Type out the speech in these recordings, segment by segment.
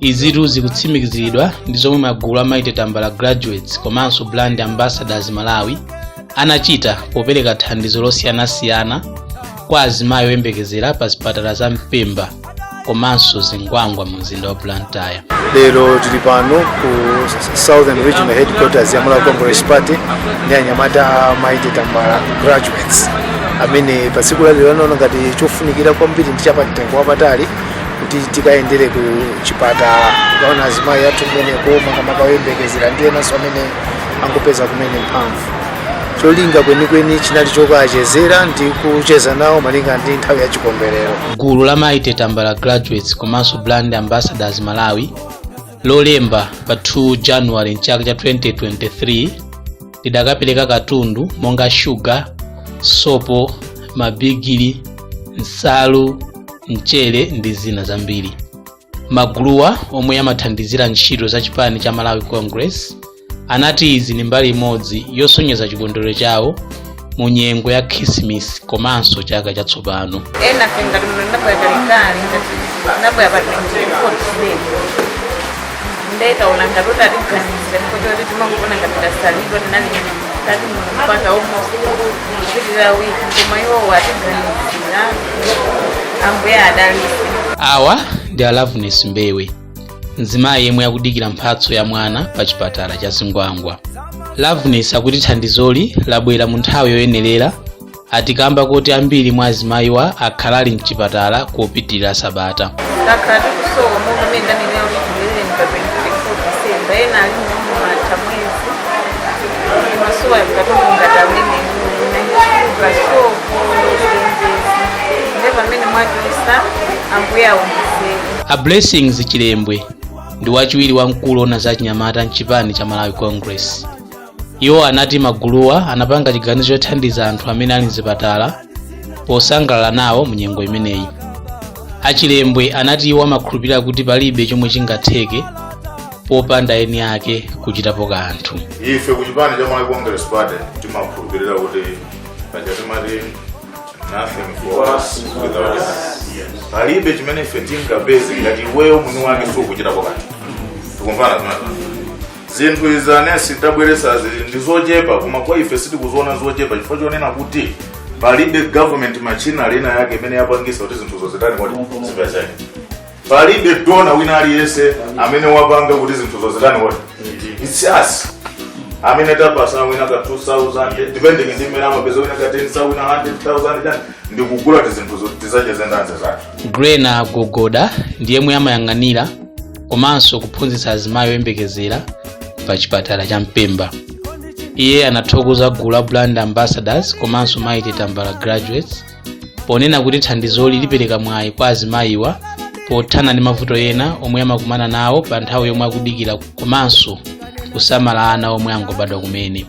izitu zikutsimikiziridwa ndi zomwe magulu a mighty tambala graduates komanso brand ambassadors malawi anachita popereka thandizo losiyanasiyana kwa azimayi oyembekezera pa zipatala za mpemba komanso zingwangwa mu mzinda wa blantyre lero tili pano ku southern regional headquarters ya malawi congress party ndi anyamata a mighty tambala graduates amene pa tsiku lalero anaona ngati chofunikira kwambiri ndi chapamtengo wapatali kuti tikayendere ku chipatala tikaone azimayi athu kumeneko makamaka oyembekezera ndi enanso amene angopeza kumene mphamvu cholinga kwenikweni chinali chokawachezera ndi kucheza nawo malinga ndi nthawi ya chikondwerero gulu la mighty tambala graduates komanso brand ambassadors malawi lolemba pa 2 january mchaka cha 2023 lidakapereka katundu monga shuga sopo mabigili nsalu mchere ndi zina zambiri maguluwa omwe amathandizira ntchito za chipani cha malawi congress anati izi ndi mbali imodzi yosonyeza chikondwerero chawo mu nyengo ya khisimis komanso chaka chatsopano ena fe ngati ine ndabwera kalekale ndabwera pa 24 today nde taona ngati kuti atiganizira nkocho kuti timangoona ngati tasalidwa tinali tati mpaka almost kuchitira wiki koma iwowo atiganizira ambuye adalise awa ndi a loveness mbewe mzimayi yemwe akudikira mphatso ya mwana pa chipatala cha zingwangwa loveness akuti thandizoli labwera mu nthawi yoyenerera ati kamba koti ambiri mwa azimayiwa akhala ali mchipatala kupitirira sabata takhala tikusowa monga mmene ndanenera kuti ndilere mpa 24 disemba ena alimo amatha mwezi amasowa katundu ngati amene nanchiuka sopo ndozenzezi nde pamene mwatulisa ambuye aonjezere a blessings chilembwe ndi wachiwiri wamkulu ona za chinyamata mchipani cha malawi congress iwo anati maguluwa anapanga chiganizo chothandiza anthu amene ali mzipatala posangalala nawo mu nyengo imeneyi achilembwe anati iwo amakhulupirira kuti palibe chomwe chingatheke popanda eni ake kuchitapo kanthu ife ku chipani cha malawi congress party timakhulupirira kuti paja timati nothing for us without us palibe chimene ife tingapeze ngati iweyo mwini wake sukuchitapo kanthu tikumvana zimenezo zinthu izi anesi tabweresa ndi zochepa koma kwa ife sitikuziona zochepa chifukwa chonena kuti palibe government machinery ina yake imene yapangisa kuti zinthuzo zitani kodi zipezeke palibe dona wina aliyense amene wapanga kuti zinthuzo zitani kodi it's us amene tapatsa wina ka 2000 depending ndi mmene amapeza wina ka 10000 wina 100000 chani ndikugula tizinthuzo tizacheze nda azizathu grena gogoda ndiyemwe amayang'anira komanso kuphunzitsa azimayi oyembekezera pa chipatala cha mpemba iye anathokoza gulu la brand ambassadors komanso Mighty Tambala graduates ponena kuti thandizoli lipereka mwayi kwa azimayiwa pothana ndi mavuto ena omwe amakumana nawo pa nthawi yomwe akudikira komanso kusamala ana omwe angobadwa kumene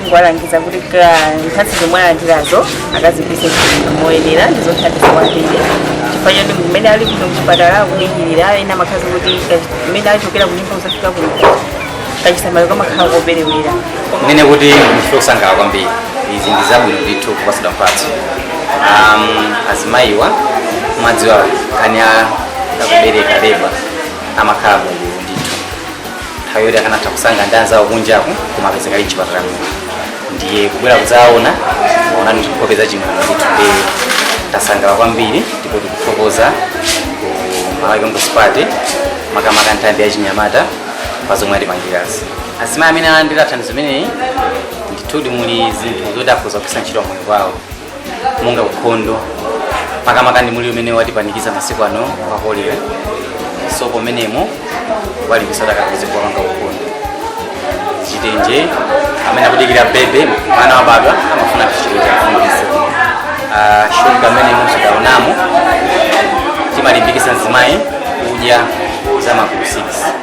ndikuwalangiza kuti mphatso zomwe alandirazo akazigwiritse ntchito moyenera ndizothandiza kwambiri chifukwa choti mmene ali kuno kuchipatala akudikirira ena amakhala kuti mmene achokera kunyumba kuzafika kuno kachisamaliro kamakhala koperewera ndiye kuti ndife osangalala kwambiri izi ndi zabwino ndithu kupasidwa mphatso um, azimayiwa mwadziwa nkhani ya kubereka leba amakhala Mulungu ndithu nthawi yoti akanatha kusangalala ndi anzawo kunjaku koma apezeka ali mchipatala muno ndiye kubwera kudzaona mwaonanso nkhope za chimwemwe ndithu ndiye tasangalala kwambiri ndipo tikuthokoza ku malawi congress party makamaka nthambi ya chinyamata pa zomwe atipangirazi azimayi amene alandira thandizo limeneli ndithudi muli zinthu zoti akhoza kugwiritsa ntchito moyo wawo monga ukhondo makamaka ndi mliri umene watipanikiza masiku ano wa kolera sopo ameneyo awalimbikitsa kuti azikapanga ukhondo chitenje amene akudikira bebe mwana wabadwa amafuna chitenje afundise uh, shuga amene mwamuonamo timalimbikisa mzimayi kudya za magulu 6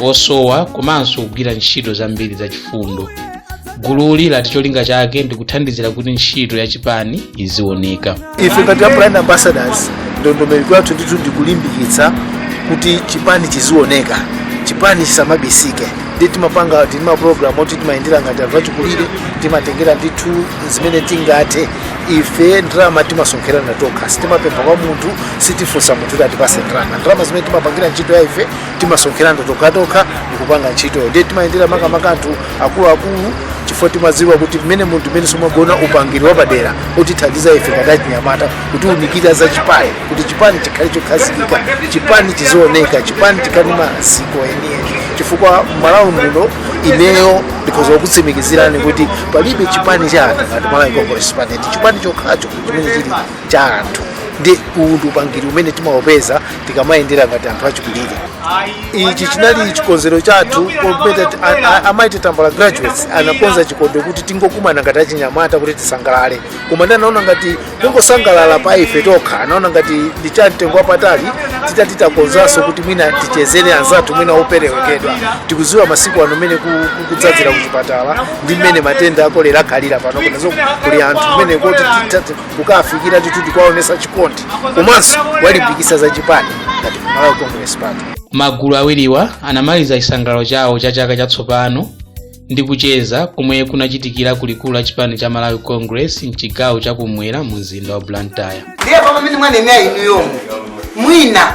osowa komanso kugwira ntchito zambiri zachifundo gululi lati cholinga chake ndi kuthandizira kuti ntchito ya chipani izioneka ife ngati a brand ambassadors ndondomeko yathu ndithu ndikulimbikitsa kuti chipani chizioneka chipani chisamabisike ndi timapanga tili ndi mapulogalamu oti timayendera ngati anthu achikulire timatengera ndithu zimene tingathe ife ndalama timasonkherana tokha sitimapempha kwa munthu sitifunsa munthu kuti atipase ndalama ndalama zimene timapangira ntchito ya ife timasonkherana tokhatokha ndikupanga ntchito ndiye timayendera makamaka anthu akuluakulu chifukwa timadziwa kuti amenewa ndi amene amakhala ndi upangiri wapadera otithandiza ife ngati achinyamata kutiunikira za chipani kuti chipani chikhale chokhazikika chipani chizioneka chipani chikhale maziko enieni chifukwa malawi muno ineyo ndikhoza kukutsimikizirani kuti palibe chipani cha anthu ngati malawi congress party chipani chokhacho chimene chili cha anthu ndi uwu ndi upangiri umene timaupeza tikamayendera ngati anthu achikulire ichi chinali chikonzero chathu popeza ti- a- a- a Mighty Tambala graduates anakonza chikonzero kuti tingokumana ngati achinyamata kuti tisangalale koma ndi anaona ngati kungosangalala pa ife tokha anaona ngati ndi cha mtengo wapatali titati takonzanso kuti mwina tichezere anzathu mwina operewekedwa tikuziwa masiku ano mmene ku- ku- kudzadzira kuchipatala ndi mmene matenda akolera akhalira pano kunazo kuli anthu mmene kuti tita- kukawafikira ndithu tikuwaonesa chikondi komanso kuwalimbikisa za chipani ngati kumalawi congress party magulu awiriwa anamaliza chisangalalo chawo cha chaka chatsopano ndi kucheza komwe kunachitikira ku likulu la chipani cha malawi congress mchigawo chakumwera mu mzinda wa blantyre ndiye pamene mwanena inu yomwe mwina